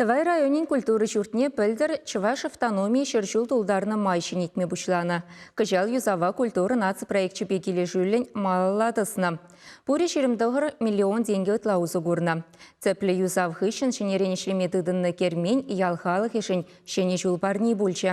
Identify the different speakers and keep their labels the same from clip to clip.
Speaker 1: Тӑвай районӗн культура ҫуртне пӗлтӗр Чӑваш автономи ҫӗр ҫул тултарнӑ май ҫӗнетме пуҫланӑ. Кӑҫал юсава культура наци проекчӗпе килӗшӳллӗн малалла тӑснӑ. Пурӗ ҫирӗм тӑхӑр миллион тенкӗ ытла усӑ курнӑ. Тӗплӗ юсав хыҫҫӑн ҫӗнӗрен ӗҫлеме тытӑннӑ кермен ял халӑхӗшӗн ҫӗнӗ ҫул парни пулчӗ.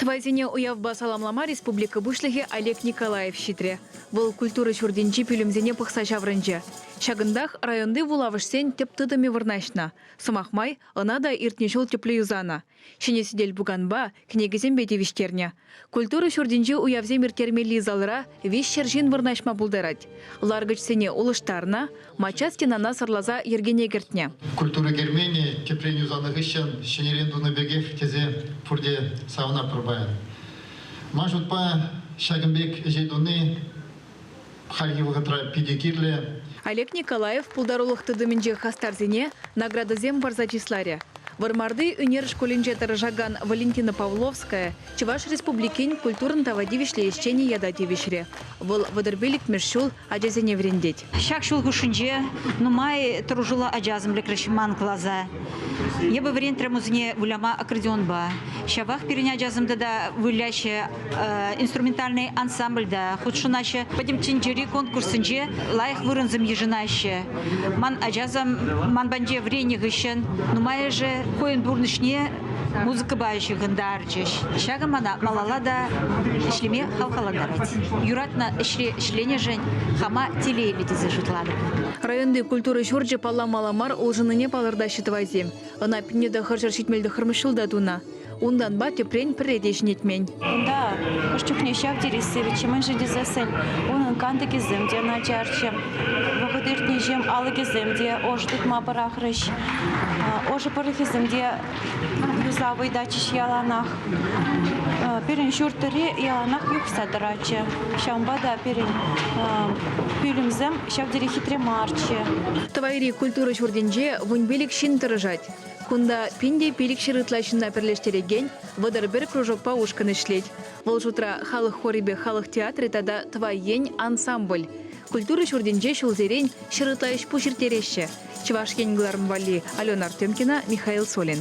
Speaker 2: Тӑвайсене уявпа саламлама республика Пуҫлӑхӗ Олег Николаев ҫитрӗ. Вӑл культура ҫуртӗнчи пӳлӗмсене пӑхса ҫаврӑнчӗ. Ҫакӑнтах районти вулавӑшсен тӗп тытӑмӗ вырнаҫнӑ. Сӑмах май, ӑна та иртнӗ ҫул тӗплӗ юсанӑ, ҫӗнӗ сӗтел-пуканпа, кӗнекесемпе тивӗҫтернӗ. Культура ҫуртӗнче уявсем ирттермелли залра виҫҫӗр ҫын вырнаҫма пултарать. Ларкӑчсене улӑштарнӑ, Мачча стенана сӑрласа йӗркене кӗртнӗ. Культура керменӗ
Speaker 3: тӗпрен юсанӑ хыҫҫӑн ҫӗнӗрен тунӑ пекех тесе пурте савӑнатпӑр паян. Ман шутпа, ҫакӑн пек ӗҫе туни хальхи вӑхӑтра питӗ кирлӗ. Олег Николаев
Speaker 2: пултарулӑх тытӑмӗнчи хастарсене наградӑсем парса чысларӗ. Вӑрмарти ӳнер шкулӗнче тӑрӑшакан Валентина Павловская Чӑваш Республикин культурӑн тава тивӗҫлӗ ӗҫченӗ ята тивӗҫрӗ. Вӑл вӑтӑрпиллӗкмӗш ҫул ачасене вӗрентет. Ҫак ҫул хушшинче
Speaker 4: нумай тӑрӑшуллӑ ача асамлеклӗх ман класа. Эпӗ вӗрентрӗ мусене выляма аккордеонпа. Ҫапах пирӗн ачасем тата выляҫҫӗ инструментальный ансамбльта, хутшӑнаҫҫӗ. Пӗтӗм тӗнчери конкурссенче лайӑх вырӑнсем йышӑнаҫҫӗ. Ман ачасем ман патне вӗреннӗ хыҫҫӑн нумайӑшӗ хӑйӗн пурнӑҫне музыкӑпа ҫыхӑнтарчӗҫ. Ҫакӑ мана малалла та ӗҫлеме хавхалантарать. Юратнӑ ӗҫре ӗҫленӗшӗн хама телейлӗ тесе шутлатӑп. Районти культура
Speaker 2: ҫурчӗ палламала мар улшӑннине палӑртаҫҫӗ тӑвайсем. Ӑна пӗрне тӑхӑрҫӗр ҫитмел тӑххӑрмӗш ҫулта тунӑ. Унтанпа тӗпрен пӗрре те ҫӗнетмен. Унта
Speaker 5: хӑш чухне ҫав тери сивӗччӗ-мӗншӗн тесессӗн унӑн кантӑкӗсем те начарччӗ. Вӑхӑт иртнӗҫем алӑкӗсем те ӑшӑ тытма пӑрахрӗҫ. Ӑшӑ пӑрӑхӗсем те юса вӑйтатчӗҫ яланах. Пирӗн ҫуртри яланах юхса тӑратчӗ. Ҫавӑнпа та пирӗн пӳлӗмсем ҫав тери хитре марччӗ. Тӑвайри
Speaker 2: культура ҫуртӗнче вунпилӗк ҫын тӑрӑшать. Кунта пин те пилӗкҫӗр ытла ҫынна пӗрлештерекен вӑтӑр пӗр кружокпа ушкӑн ӗҫлет. Вӑл шутра халӑх хорӗпе халӑх театрӗ тата Тӑвай ен ансамбль. Культура ҫуртӗнче ҫулсерен ҫӗр ытла ӗҫ-пуҫ ирттереҫҫӗ Чӑваш Ен кӑларӑм валли Алена Артемкина, Михаил Солин.